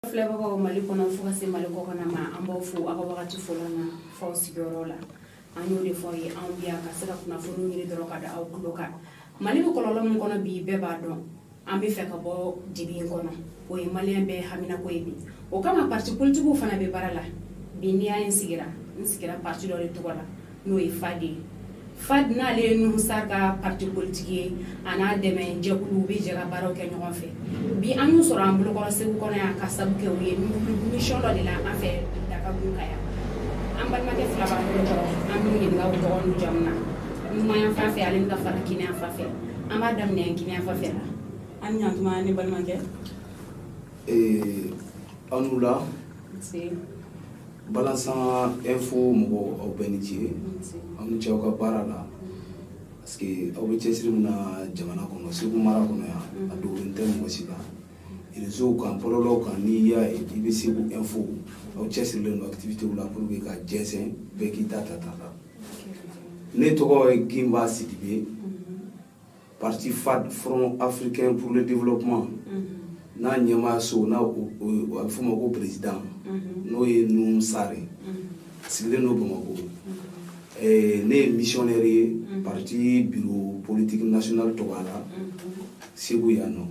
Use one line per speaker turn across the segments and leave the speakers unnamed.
filɛbagaw mali kɔnɔ fo ka se mali kɔkɔna ma an b'aw fo aw ka wagati fɔlɔ na f'aw sigiyɔrɔ la an y'o de fɔ ye anw bi yan ka se ka kunnafoniw ɲini dɔrɔn ka da aw tulo kan mali bɛ kɔlɔlɔ min kɔnɔ bi bɛɛ b'a dɔn an bɛ fɛ ka bɔ dibi in kɔnɔ o ye maliyɛn bɛɛ haminako ye bi o kama parti politigiw fana bɛ baara la bi n'i y'a ye n sigira n sigira parti dɔ de tɔgɔ la n'o ye fadi ye fadi n'ale ye nuhum sar ka parti politigi ye a n'a dɛmɛ jɛkulu u bɛ jɛ ka baaraw kɛ ɲɔgɔn fɛ bi an y'u sɔrɔ an bolokɔrɔ segu kɔnɔ yan ka sabu kɛ u ye mission dɔ de la an fɛ dagabu ka yan an balimakɛ fila b'an bolokɔrɔ an b'u ɲininka u tɔgɔ n'u jamu na numanyan fan fɛ ale bɛ ka fara kiniyan fan fɛ an b'a daminɛ kiniyan fan fɛ la an ɲantuma ne balimakɛ ee aw ni wula balansan info mɔgɔw aw bɛɛ ni ce aw ni ce aw ka baara la parce que aw bɛ cɛsiri min na jamana kɔnɔ segu mara kɔnɔ yan a dogolen tɛ mɔgɔ si la reseau kan bɔlɔlɔw kan n'i y'a ye i bɛ segu info aw cɛsirilen don activité la pour que ka jɛnsɛn bɛɛ k'i ta ta a la ne tɔgɔ ye gimba sidibe parti fad front africain pour le développement mm-hmm. n'a ɲɛmaa so n'a a bɛ f'o ma ko président mm-hmm. n'o ye nuhum sar mm-hmm. sigilen don bamakɔ eh, ne ye missionnaire ye parti bureau politique national tɔgɔ la segu yan nɔ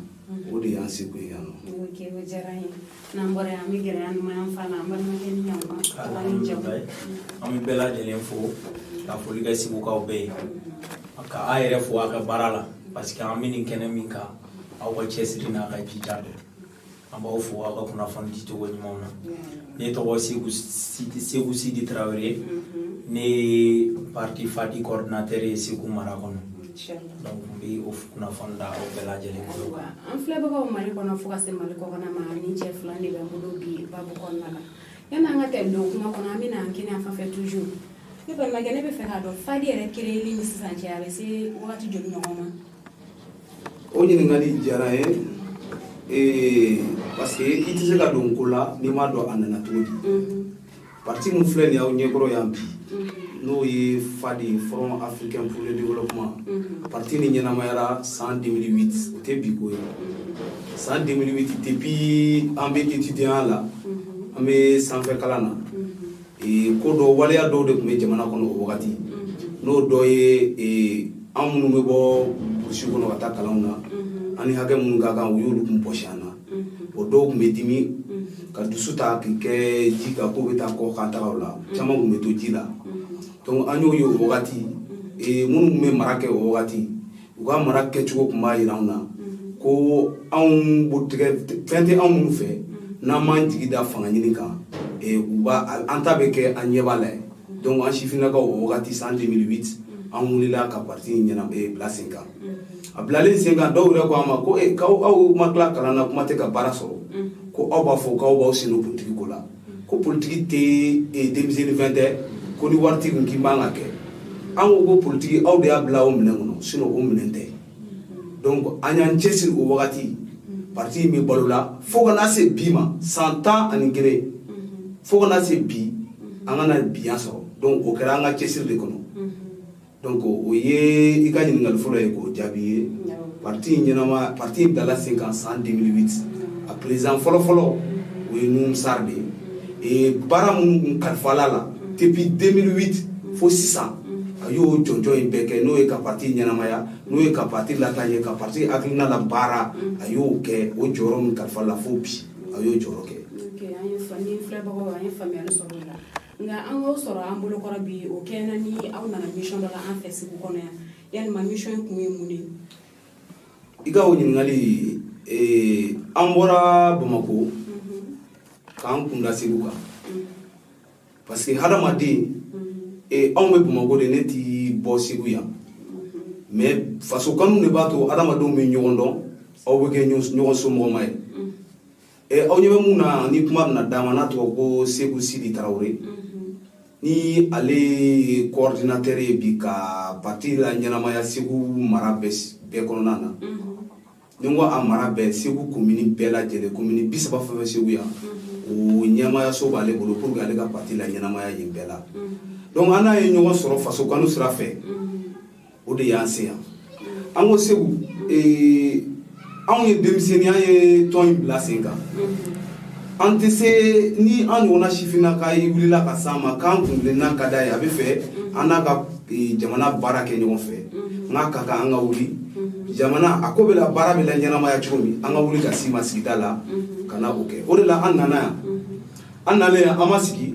o de y'an seko ye yan nɔ ok o diyara n ye n'an bɔra yan an bɛ gɛrɛ an numanyan fan na an balimakɛ nin yan tɔgɔ an'a jamu Alhamdulilayi. an bɛ bɛɛ lajɛlen fo ka foli kɛ segukaw bɛɛ ye ka aw yɛrɛ fo aw ka baara la parce que an bɛ nin kɛnɛ min kan aw ka cɛsiri n'aw ka jija don an b'aw fo aw ka kunnafoni dicogo ɲuman na ne tɔgɔ seku sidi seku sidi tarawele ne ye parti fadi coordinateur ye segu mara kɔnɔ bi o kunnafoni da aw bɛɛ lajɛlen tulo kan an filɛbagaw mali kɔnɔ fo ka se mali kɔkɔna ma nin cɛ fila de b'an bolo bi babu kɔnɔna la yanni an ka tɛmɛ don kuma kɔnɔ an bɛna an kiniyan fan fɛ toujours ne balimakɛ ne b'a fɛ k'a dɔn fadi yɛrɛ kereyeli ni sisan cɛ a bɛ se wagati joli ɲɔgɔn ma o ɲininkali diyara n ye parce que i tɛ se ka don ko la n'i m'a dɔn a nana cogo di Parti min filɛ nin y'aw ɲɛkɔrɔ yan bi n'o ye FADI Front Africain pour le Développement parti nin ɲɛnamayara san 2008 o tɛ bi ko ye san 2008 depuis an bɛ étudiantya la an bɛ sanfɛ kalan na ko dɔ waleya dɔw de tun bɛ jamana kɔnɔ o wagati n'o dɔ ye an minnu bɛ bɔ burusi kɔnɔ ka taa kalanw na an ni hakɛ minnu ka kan u y'olu tun bɔsi an na o dɔw tun bɛ dimi ka dusu ta k'i kɛ ji kan ko bɛ taa kɔkan tagaw la caman tun bɛ to ji la donc an y'o ye o wagati minnu tun bɛ mara kɛ o wagati u ka mara kɛcogo tun b'a jira anw na ko anw botigɛ fɛn tɛ anw minnu fɛ n'an m'an jigi da fanga ɲini kan u b'a an ta bɛ kɛ an ɲɛ b'a la donc an sifinnakaw o wagati san 2008 an wulila ka parti in ɲɛna bila sen kan a bilalen sen kan dɔw yɛrɛ ko an ma ko e k'aw aw ma tila kalan na kuma tɛ ka baara sɔrɔ ko aw b'a fɔ k'aw b'aw sen don politiki ko la ko politiki tɛ e, denmisɛnnin fɛn tɛ ko ni wari t'i kun k'i man ka kɛ an ko ko politiki aw de y'a bila o minɛn kɔnɔ sinon o minɛn tɛ donc an y'an cɛsiri o wagati parti in bɛ balo la fo ka na se bi ma san tan ani kelen fo ka na se bi an ka na biya sɔrɔ donc o kɛra an ka cɛsiri de kɔnɔ donc o ye i ka ɲininkali fɔlɔ ye k'o jaabi ye pati ɲɛnama pati dala sen kan san 2008 a président fɔlɔ fɔlɔ o ye nuhum sar de ye baara minnu kalifala a la depuis 2008 fo sisan a y'o jɔnjɔn bɛɛ kɛ n'o ye ka pati ɲɛnamaya n'o ye ka pati la ye ka pati akiinala baara a y'o kɛ o jɔyɔrɔ min kalifala fo bi a y'o jɔyɔrɔ kɛ nka an k'aw sɔrɔ an bolokɔrɔ bi o kɛɲɛna ni aw nana mission dɔ la an fɛ segu kɔnɔ yan yalima mission in kun ye mun de ye i ka o ɲininkali eh, an bɔra bamako k'an kun da segu kan parce que hadamaden eh, anw bɛ bamako de ne ti bɔ segu yan mais faso kanu de b'a to hadamadenw bɛ ɲɔgɔn dɔn aw bɛ kɛ ɲɔgɔn somɔgɔma ye eh, aw ɲɛ bɛ min na nin kuma bɛna d'a ma n'a tɔgɔ ko segu sidi tarawele mhm. ni ale ye coordinateur ye bi ka parti laɲɛnamaya segu mara bɛɛ kɔnɔna na mhm. ni n ko a mara bɛɛ segu komini bɛɛ lajɛlen komini bisaba fɛn fɛn segu yan mhm. o ɲɛmaayaso b'ale bolo pour que ale ka parti laɲɛnamaya yen bɛɛ la donc an n'a ye ɲɔgɔn sɔrɔ faso kanu sira fɛ o de y'an se yan an ko segu ee, anw ye denmisɛnnin an ye tɔn in bila sen kan an tɛ se ni an ɲɔgɔnna sifinnaka ye wulila ka s'an ma k'an kuntilenna ka d'a ye a bɛ fɛ an n'a ka ee, jamana baara kɛ ɲɔgɔn fɛ n k'a ka kan an ka wuli jamana a ko bɛ labaara bɛ laɲɛnamaya cogo min an ka wuli ka s'i ma sigida la ka na o kɛ o de la an nana yan an nalen yan an ma sigi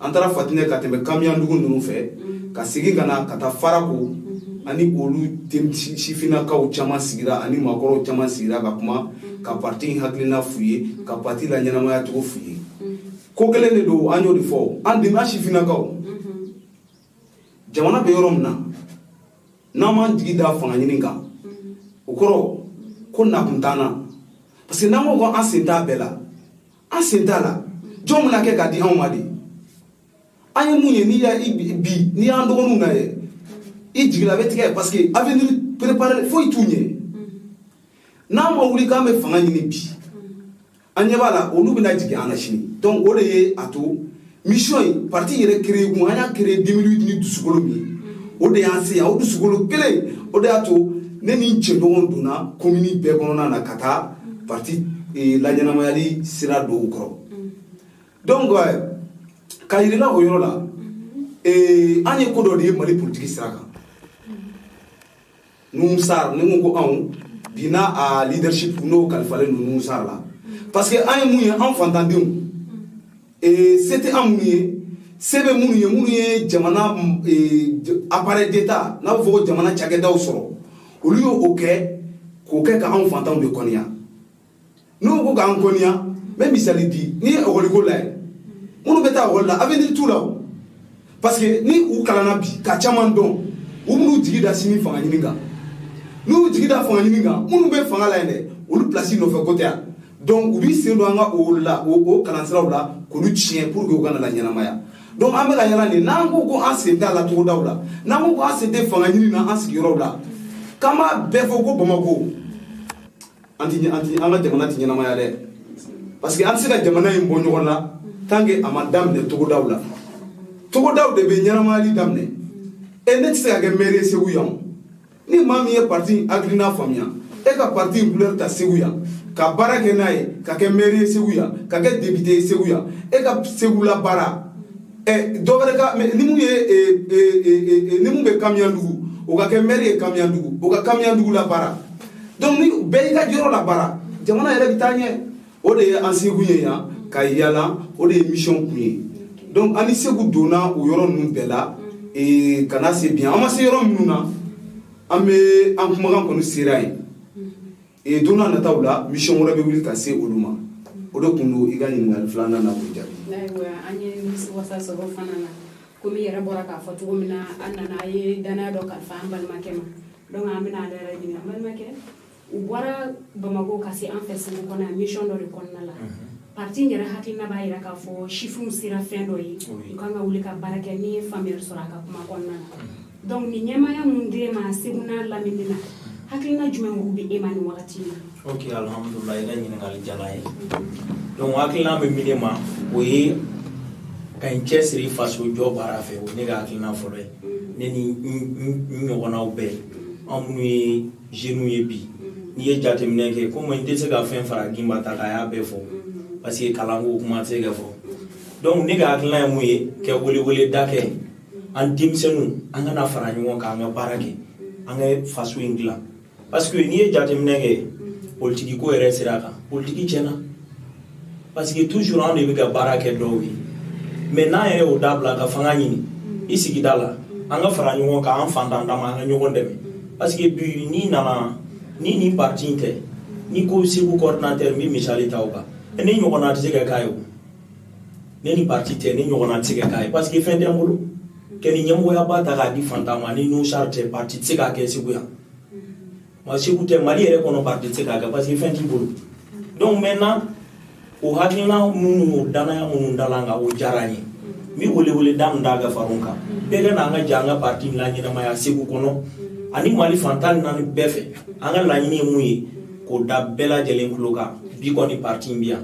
an taara fatinɛ ka tɛmɛ kamiyandugu ninnu fɛ mm-hmm. ka segin ka na ka taa farako mm-hmm. an ni olu sifinnakaw caman sigira an ni maakɔrɔw caman sigira ka kuma mm-hmm. ka parti in hakilina f'u ye ka parti laɲɛnamaya cogo f'u ye ko kelen de don an y'o de fɔ an dɛmɛ sifinnakaw jamana bɛ yɔrɔ min na n'an m'an jigi da fanga ɲini kan o kɔrɔ ko nakun t'an na parce que n'an ko ko an sen t'a bɛɛ la an sen t'a la jɔn bɛn'a kɛ k'a di anw ma dɛ an ye mun ye n'i y'a bi n'i y'an dɔgɔ ninnu lajɛ i jigila bɛ tigɛ parce que avenir préparé foyi t'u ɲɛ n'an ma wuli k'an bɛ fanga ɲini bi an ɲɛ b'a la olu bɛna jigi an na sini donc o de ye a to mission in parti yɛrɛ créé kun an y'a créé 2008 ni dusukolo min ye o de y'an se yan o dusukolo kelen o de y'a to ne ni n jɛɲɔgɔnw donna komini bɛɛ kɔnɔna na ka taa parti eh, laɲɛnamayali sira da u kɔrɔ donc eh, k'a yir'u la o yɔrɔ la eh, an ye ko dɔ de ye mali politiki sira kan nuhun sar ne ko ko anw bi n'a a leadership n'o kalifalen don nuhun sar la parce que an ye mun ye an fantandenw ee se tɛ an minnu ye se bɛ minnu ye minnu ye jamana appareil d'état n'a bɛ fɔ ko jamana cakɛdaw sɔrɔ olu y'o kɛ k'o kɛ ka anw fantanw de kɔniya n'u ko k'an kɔniya n bɛ misali di n'i ye ekɔliko lajɛ minnu bɛ taa ekɔli la avenir t'u la o parce que ni u kalanna bi ka caman dɔn u bɛn'u jigi da sini fanga ɲini kan n'u jigi da fanga ɲini kan minnu bɛ fanga la yen dɛ olu pilasi nɔfɛ ko tɛ yan donc u b'i sen don an ka o la o kalansiraw la k'olu tiɲɛ pour que u kana laɲɛnamaya donc an bɛ ka yala nin n'an ko ko an sen t'a la togodaw la n'an ko ko an sen tɛ fanga ɲini na an sigiyɔrɔw la k'an b'a bɛɛ fɔ ko bamako an ti an ti an ka jamana ti ɲɛnamaya dɛ parce que an tɛ se ka jamana in bɔ nɔgɔ la tant que a ma daminɛ togodaw la togodaw de bɛ ɲɛnamayali daminɛ e ne tɛ se ka kɛ mɛri ye segu yan ni maa min ye parti hakilina faamuya e ka parti in couleur ta segu yan ka baara kɛ n'a ye ka kɛ mɛri ye segu yan ka kɛ depite ye segu yan e ka segu labaara ɛ dɔ wɛrɛ ka ni mun ye ni min bɛ kamiyandugu o ka kɛ mɛri ye kamiyandugu o ka kamiyandugu labaara donc ni bɛɛ y'i ka yɔrɔ labaara jamana yɛrɛ bɛ taa ɲɛ o de ye an sekun ye yan ka yala o de ye mission kun ye donc an ni segu donna o yɔrɔ ninnu bɛɛ la ee, ka na se bi an ma se yɔrɔ minnu na an bɛ an kumakan kɔni sera yen ee, don na nataw la mission wɛrɛ bɛ wuli ka se olu ma o de tun don i ka ɲininkali filanan na k'o jaabi. ayiwa an ye nimisiwasa sɔrɔ fana na komi i yɛrɛ bɔra k'a fɔ cogo min na an nana an ye dannaya dɔ kalifa an balimakɛ ma. donc an bɛna ale yɛrɛ ɲininka balimakɛ u bɔra bamako ka se an fɛ segu kɔnɔ yan mission dɔ de kɔnɔna la mhm. parti in yɛrɛ hakilina b'a yira k'a fɔ sifinw sera fɛn dɔ ye u kan ka wuli ka baara kɛ n'i ye faamuyali sɔrɔ a ka kuma kɔnɔna na mhm. donc nin ɲɛmaaya min den ma segu n'a lamini na hakilina jumɛn olu bɛ e ma nin wagati in na ok alhamdulila i ka ɲininkali diyara n ye mhm. donc hakilina bɛ min na o ye ka n cɛsiri faso jɔ baara fɛ o ne ka hakilina fɔlɔ ye ne ni n ɲɔgɔnnaw bɛɛ an minnu ye jeunes ye bi n'i ye jateminɛ kɛ komi n tɛ se ka fɛn fara gimba ta k'a y'a bɛɛ fɔ parce que kalanko kuma tɛ se ka fɔ donc ne ka hakilina ye mun ye ka welewele da kɛ an denmisɛnninw an ka na fara ɲɔgɔn kan an ka baara kɛ an ka faso in dilan parce que n'i ye jateminɛ kɛ politiki ko yɛrɛ sira kan politiki tiɲɛna parce que toujours anw de bɛ ka baara kɛ dɔw ye mais n'an yɛrɛ y'o dabila ka fanga ɲini i sigida la an ka fara ɲɔgɔn kan an fantan dama an ka ɲɔgɔn dɛmɛ parce que bi n'i nana ni nin parti in tɛ n'i ko segu coordinateur n bɛ misali ta o kan ne ɲɔgɔnna tɛ se ka k'a ye o ne ni parti tɛ ne ɲɔgɔnna tɛ se ka k'a ye parce que fɛn tɛ n bolo ka nin ɲɛmɔgɔyaba ta k'a di fantan ma ni nusar tɛ parti tɛ se k'a kɛ segu yan wa segu tɛ mali yɛrɛ kɔnɔ parti tɛ se k'a kɛ parce que fɛn t'i bolo donc maintenant o hakilina minnu o danaya minnu dala n kan o diyara n ye n bɛ welewele da min da ka far'o kan bɛɛ ka na an ka jɛ an ka parti in laɲɛnamaya segu kɔnɔ ani mali fan tan ni naani bɛɛ fɛ an ka laɲini ye mun ye k'o da bɛɛ lajɛlen tulo kan bi kɔni parti in bɛ yan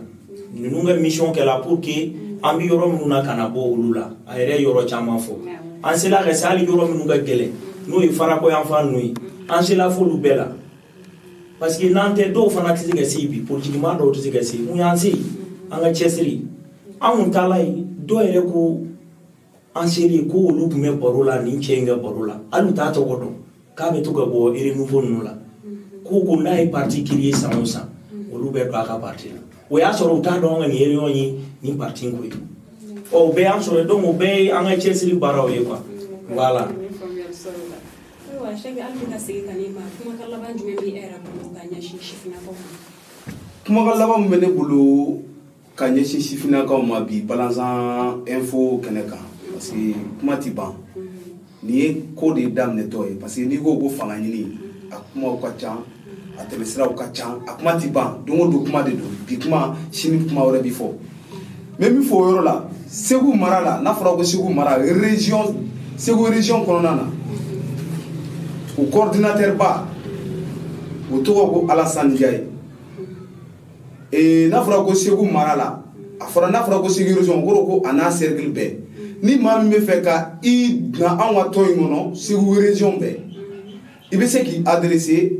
ninnu ka mission kɛla pour que an bɛ yɔrɔ minnu na ka na bɔ olu la a yɛrɛ ye yɔrɔ caman fɔ an sela ka se hali yɔrɔ minnu ka gɛlɛn n'o ye farako yan fan ninnu ye an sela f'olu bɛɛ la parce que n'an tɛ dɔw fana tɛ se ka se yen bi politikimaa dɔw tɛ se ka se yen mun y'an se yen an ka cɛsiri an kun taala yen dɔw yɛrɛ ko an seli kɔ olu tun bɛ baro la nin cɛ in ka baro la hali u t'a tɔgɔ dɔn k'a bɛ to ka bɔ renouveau ninnu la ko ko n'a ye parti créer san o san olu bɛ don a ka parti la o y'a sɔrɔ u t'a dɔn an ka nin réunion ye nin parti ko ye ɔ o bɛɛ y'an sɔrɔ donc o bɛɛ ye an ka cɛsiri baaraw ye quoi voilà kumakan laban min bɛ ne bolo ka ɲɛsin sifinnakaw ma bi balanzan info kɛnɛ kan parce que kuma tɛ ban nin ye ko de daminɛtɔ ye parce que n'i ko ko fanga ɲini a kumaw ka ca a tɛmɛsiraw ka ca a kuma tɛ ban don o don kuma de don bi kuma sini kuma wɛrɛ bi fɔ n bɛ min fɔ o yɔrɔ la segu mara la n'a fɔra ko segu mara région segu région kɔnɔna na o coordinateur ba o tɔgɔ ko alasani jaye ee n'a fɔra ko segu mara la a fɔra n'a fɔra ko segu région kɔrɔ ko a n'a cercle bɛɛ ni maa min bɛ fɛ ka i na anw ka tɔn in kɔnɔ segu région bɛɛ i bɛ se k'i adressé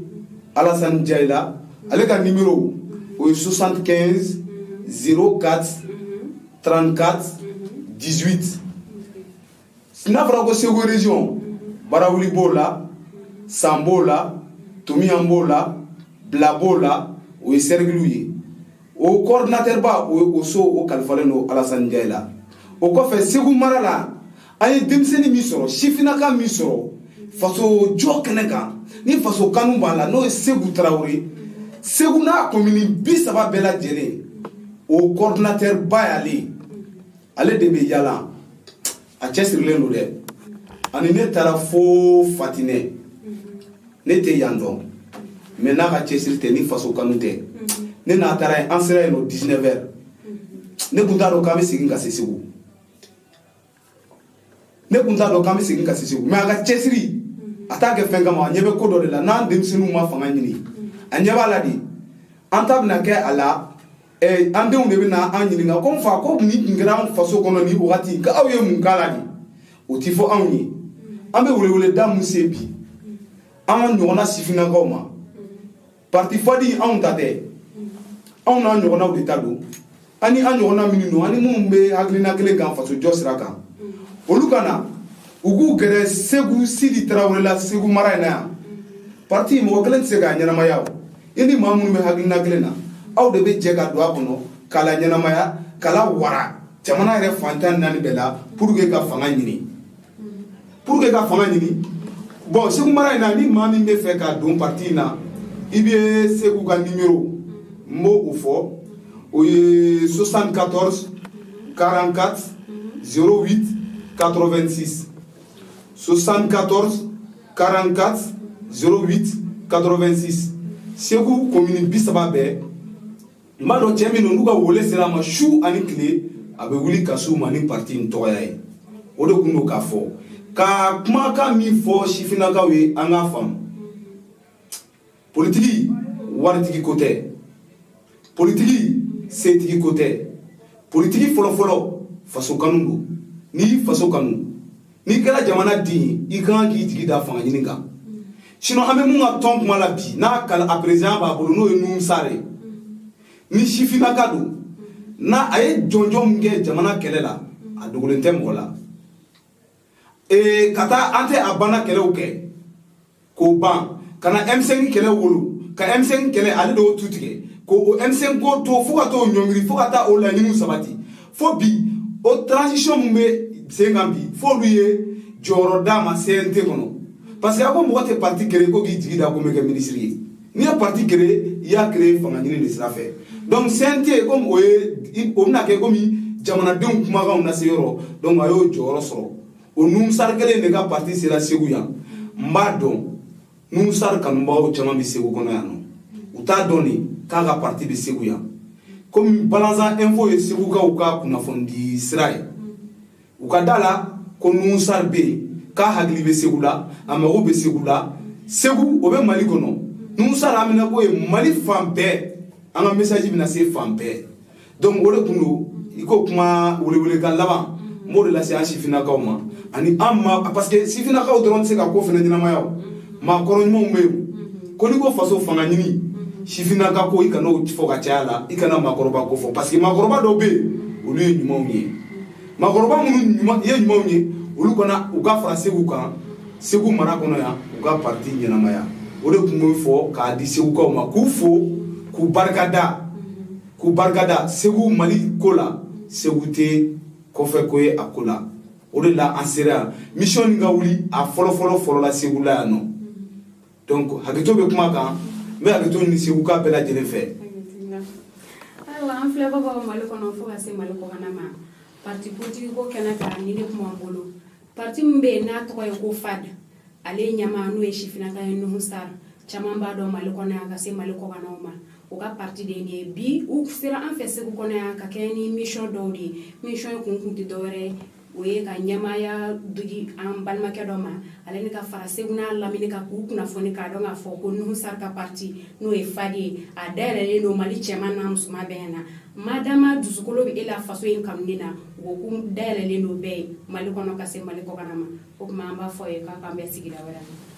alasani jayi la ale ka numéro o ye 75 04 34 18 N'a fɔra ko segu region barawuli b'o la san b'o la tomiɲan b'o la bila b'o la o ye sɛrikiliw ye o kɔɔridinatɛriba o so o kalifalen don alasani jayi la o kɔfɛ segu mara la an ye denmisɛnnin min sɔrɔ sifinnaka min sɔrɔ faso jɔ kɛnɛ kan ni faso kanu b'a la n'o ye seku tarawele ye segu n'a komini bi saba bɛɛ lajɛlen o kɔɔridinatɛriba y'ale ye ale de bɛ yaala a cɛsirilen don dɛ ani ne taara fo fatinɛ ne tɛ yan dɔn mɛ n'a ka cɛsiri tɛ ni faso kanu tɛ ne n'a taara yen an sera yen o 19 heures ne kun t'a dɔn k'an bɛ segin ka se segu ne kun t'a dɔn k'an bɛ segin ka se segu mɛ a ka cɛsiri a t'a kɛ fɛn kama a ɲɛ bɛ ko dɔ de la n'an denmisɛnninw ma fanga ɲini a ɲɛ b'a la de an ta bɛna kɛ a la eh, an denw de bɛna an ɲininka ko n fa ko nin tun kɛra an faso kɔnɔ nin wagati ka aw ye mun k'a la de o ti fɔ anw ye an bɛ weleweleda mun se bi an ɲɔgɔnna sifinnakaw ma parti fadi anw ta tɛ anw n'an ɲɔgɔnnaw de ta don ani an ɲɔgɔnna minnu don ani minnu bɛ hakilina kelen kan faso jɔ sira kan olu ka na u k'u gɛrɛ seku sidi tarawele la segu mara in na yan parti mɔgɔ kelen tɛ se k'a ɲɛnamaya o i ni maa minnu bɛ hakilina kelen na aw de bɛ jɛ ka don a kɔnɔ k'a laɲɛnamaya k'a lawara jamana yɛrɛ fan tan ni naani bɛɛ la pour que ka fanga ɲini pour que ka fanga ɲini bɔn segu mara in na ni maa min bɛ fɛ ka don parti in na i bɛ seku ka nimero n b'o fɔ o ye 74 44 08 86 74 44 08 86 segu komini bi saba bɛɛ n b'a dɔn cɛ min don n'u ka wele sera a ma su ani tile a bɛ wuli ka s'u ma ni parti in tɔgɔya ye o de tun don k'a fɔ ka kumakan min fɔ sifinnakaw ye an k'a faamu politiki waritigi ko tɛ politiki setigi ko tɛ politiki fɔlɔfɔlɔ faso kanu don n'i y'i faso kanu n'i kɛra jamana den ye i ka kan k'i jigi da fanga ɲini kan sinɔ an bɛ min ka tɔn kuma la bi n'a kala a perezidan b'a bolo n'o ye nuhumu sari ye ni sifinnaka don n'a a ye jɔnjɔn min kɛ jamana kɛlɛ la a dogolen tɛ mɔgɔ la ee ka taa an tɛ a banna kɛlɛw kɛ k'o ban ka na M5 kɛlɛ wolo ka M5 kɛlɛ ale de y'o tu tigɛ ko o M5 ko to fo ka t'o ɲɔngiri fo ka taa o laɲiniw sabati fo bi o transition min bɛ sen kan bi f'olu ye jɔyɔrɔ d'a ma CNT kɔnɔ parce que a ko mɔgɔ tɛ parti créer ko k'i jigi da ko n bɛ kɛ minisiri ye n'i ye parti créer i y'a créer fanga ɲini de sira fɛ donc CNT comme o ye o bɛna kɛ komi jamanadenw kumakanw lase yɔrɔ donc a y'o jɔyɔrɔ sɔrɔ o nuhun sar kelen de ka parti sera segu yan n b'a dɔn nuhun sar kanubagaw caman bɛ segu kɔnɔ yan nɔ u t'a dɔn de k'a ka parti bɛ segu yan komi balanzan info ye segukaw ka kunnafonidi sira ye u ka da a la ko nuhun sar bɛ yen k'a hakili bɛ segu la a mago bɛ segu la segu o bɛ mali kɔnɔ nuhun sar haminanko ye mali fan bɛɛ an ka message bɛna se fan bɛɛ donc o de tun don i ko kuma welewelekan laban n b'o de lase an sifinnakaw ma ani an ma parce que sifinnakaw dɔrɔn tɛ se ka ko fana ɲɛnamaya o maakɔrɔ ɲumanw bɛ yen ko n'i ko faso fanga ɲini sifinnaka ko i kana o fɔ ka caya la i kana maakɔrɔba ko fɔ parce que maakɔrɔba dɔw bɛ yen olu ye ɲumanw ye makɔrɔba minnu ye ɲumanw ye olu ka na u ka fara segu kan segu mara kɔnɔ yan u ka parti ɲɛnamaya o de tun bɛ fɔ k'a di segukaw ma k'u fo k'u barikada k'u barikada segu mali ko la segu tɛ kɔfɛ ko ye a ko la o de la an sera yan mission nin ka wuli a fɔlɔfɔlɔ fɔlɔla segu la yan nɔ donc hakɛto bɛ kuma kan n bɛ hakɛto ɲini seguka bɛɛ lajɛlen fɛ ayiwa an filɛbagaw mali kɔnɔ fo ka se mali kɔkanna ma parti politiki ko kɛnɛ kan ni ne kuma bolo parti min bɛ yen n'a tɔgɔ ye ko FAD ale ɲɛmaa n'o ye sifinnaka ye nuhu sar caman b'a dɔn mali kɔnɔ yan ka se mali kɔkannaw ma u ka parti de ye bi u sera an fɛ segu kɔnɔ yan ka kɛ ni mission dɔw de ye mission kun kun tɛ dɔwɛrɛ ye o ye ka ɲɛmaaya di an balimakɛ dɔ ma ale ni ka fara segu n'a lamini kan k'u kunnafoni k'a dɔn k'a fɔ ko nuhu sar ka parti n'o ye FAD ye a dayɛlɛlen don mali cɛman n'a musoman bɛɛ na madama dusukolo bɛ e la faso in kanuni na u ko ko dayɛlɛlen don bɛɛ ye mali kɔnɔ ka se mali kɔkanna ma o tuma an b'a fɔ a ye k'a k'an bɛn sigida wɛrɛ